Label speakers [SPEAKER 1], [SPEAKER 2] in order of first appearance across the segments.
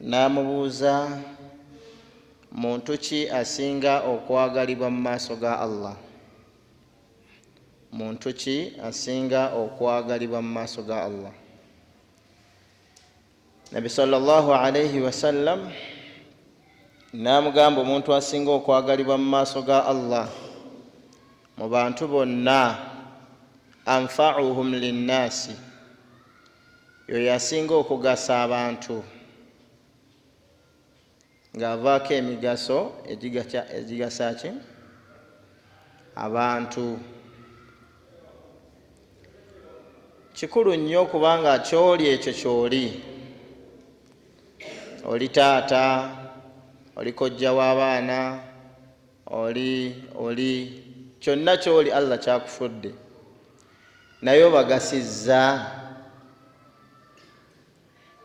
[SPEAKER 1] N'amubuuza, Muntu ki asinga okwagalibwa mu maaso ga Allah? Muntu ki asinga okwagalibwa mu maaso ga Allah? Nabbi sala llahu alaihi wasallam n'amugamba, Omuntu asinga okwagalibwa mu maaso ga Allah mu bantu bonna, anfauhum linnaasi, Y'oyo asinga okugasa abantu, ng'avaako emigaso egigasa ki? Abantu. Kikulu nnyo okuba nga ky'oli ekyo ky'oli. Oli taata, oli kojja w'abaana, oli oli kyonna kyoli allah kyakufudde naye obagasizza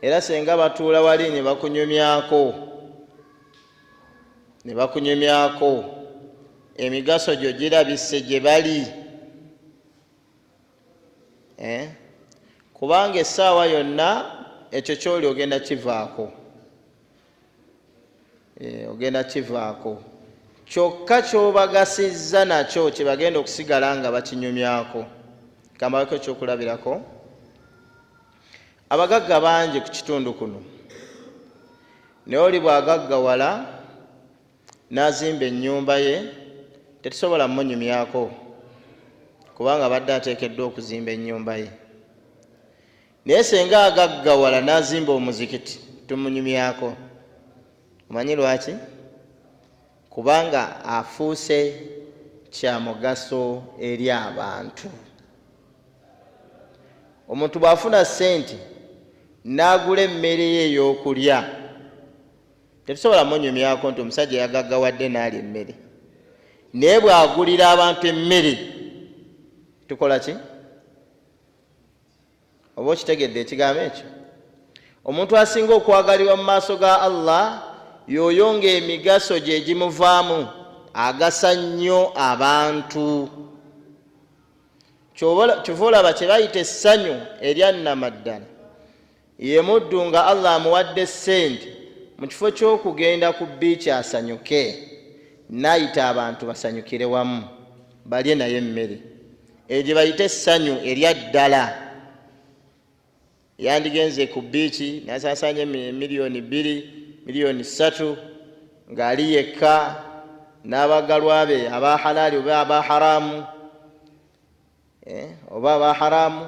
[SPEAKER 1] era senga batuula wali ne bakunyumyako ne bakunyumyako emigaso gyo girabise gye bali eh? kubanga essaawa yonna ekyo kyoli ogenda kivaako eh, ogenda kivaako kyokka kyobagasizza nakyo kyebagenda okusigala nga bakinyumyako kambaweko ekyokulabirako abagagga bangi ku kitundu kuno naye oli bwagaggawala n'azimba ennyumba ye tetusobola munyumyako kubanga abadde ateekeddwa okuzimba ennyumba ye naye senga agaggawala n'azimba omuzikiti tumunyumyako omanyi lwaki kubanga afuuse kya mugaso eri abantu omuntu bw'afuna ssente n'agula emmere ye ey'okulya tetusobola munyumyako nti omusajja yagaggawadde n'alya emmere naye bw'agulira abantu emmere tukola ki oba okitegedde ekigambo ekyo omuntu asinga okwagalibwa mu maaso ga allah yoyo ngaemigaso gyegimuvaamu agasa nnyo abantu kyova olaba kyebayita essanyu eryannamaddala yemuddu nga allah amuwadde sente mu kifo kyokugenda ku biiki asanyuke nayita abantu basanyukire wamu balye naye emmere eyo gye bayita essanyu erya ddala yandigenze ku biiki nasaasaanya emiliyoni bbiri miliyoni ssatu ng'ali yekka n'abagalwa be aba halaali oba aba haraamu eh, oba aba haraamu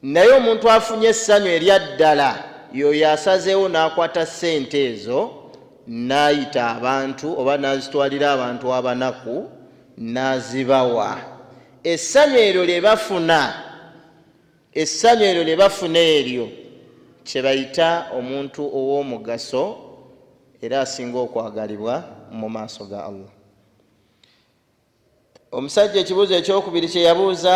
[SPEAKER 1] Naye omuntu afunye essanyu erya ddala y'oyo asazeewo n'akwata ssente ezo n'ayita abantu oba n'azitwalira abantu abanaku n'azibawa. Essanyu eryo lye bafuna, essanyu eryo lye bafuna eryo kye bayita omuntu ow'omugaso era asinga okwagalibwa mu maaso ga Allah. Omusajja ekibuuzo ekyokubiri kye yabuuza